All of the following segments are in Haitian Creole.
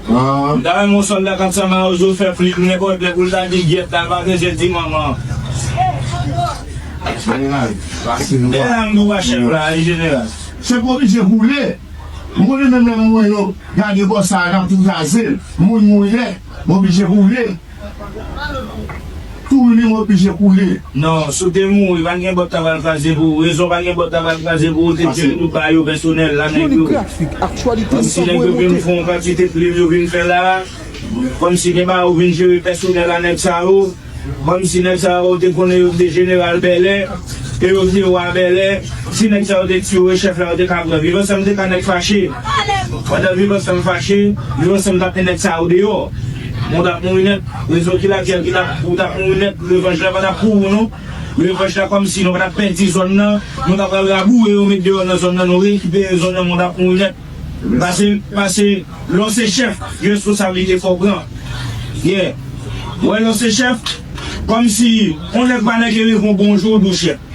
M ta renmen yon sòlda kap sa mawozo fè flip nenpòt lè poul ta di gyèt la l pa bezwen di manman. Jeneral pase nou a. Elan nou pa chèf la wi jeneral. Chèf oblije boule. M konnen menm lè moun yo gade bò sa a nap tou kraze l. Moun mouri nèt. Oblije boule. Tour li oblije koule. Non, si w te mouri, pa gen bòt la pral kraze pou ou. Rezon pa gen bòt la pral kraze pou ou te di tout ba yo pèsonèl la nèg yo. Kòm si nèg yo vin fon kantite plim yo vin fè la. Kòm si gen ba yo vin jere pèsonèl a nèg sa yo. Kòm si nèg sa yo te konnen yo te jeneral Bèlè. E yo te wa Bèlè. Si nèg sa yo te tiyo e chèf la yo te ka pran. Viv ansanm te ka nèg fache. Pandan viv ansanm fache, viv ansanm tap men nèg sa yo deyò. Bon ou tap mouri nèt, rezon ki lakyèl ki tap ou tap mouri nèt, revanj la pa tap pou ou non. Revanj la kòmsi nou pa tap pèdi zòn nan, nou ta pral raboure yo met deyò nan zòn nan, nou rekipere zòn nan men ou tap mouri nèt. Pase pase lè w se chèf gen responsablite fò w pran. Yeah. Wè lè w se chèf, kòmsi on nèg pa nèg e rive on bon jou ou di w chèf.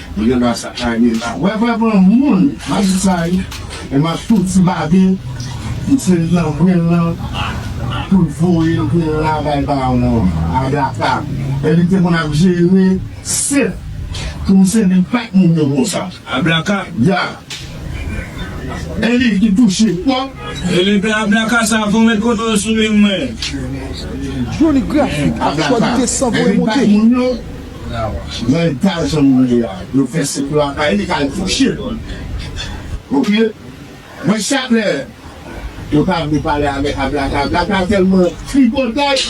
Mwen gen dwa sa kay mwen la. Wè vre pran moun map di sa wi e map tou di babe misye nan brenn lan poul voye brenn la bay bawon Agatha e li te konn ap jere sèt pou misye li pat moun yo konsa Agatha ya e li ki touche twòp. Elenpè Agatha sa fon met kote yo sou li mwen. Joly graphic ak qualité san voye monte. Nan eta jan moun ye a yo fè sèk lakay li kal kouche ok mwen chak lè yo ta vle pale avèk ablakabla ta tèlman tripotay.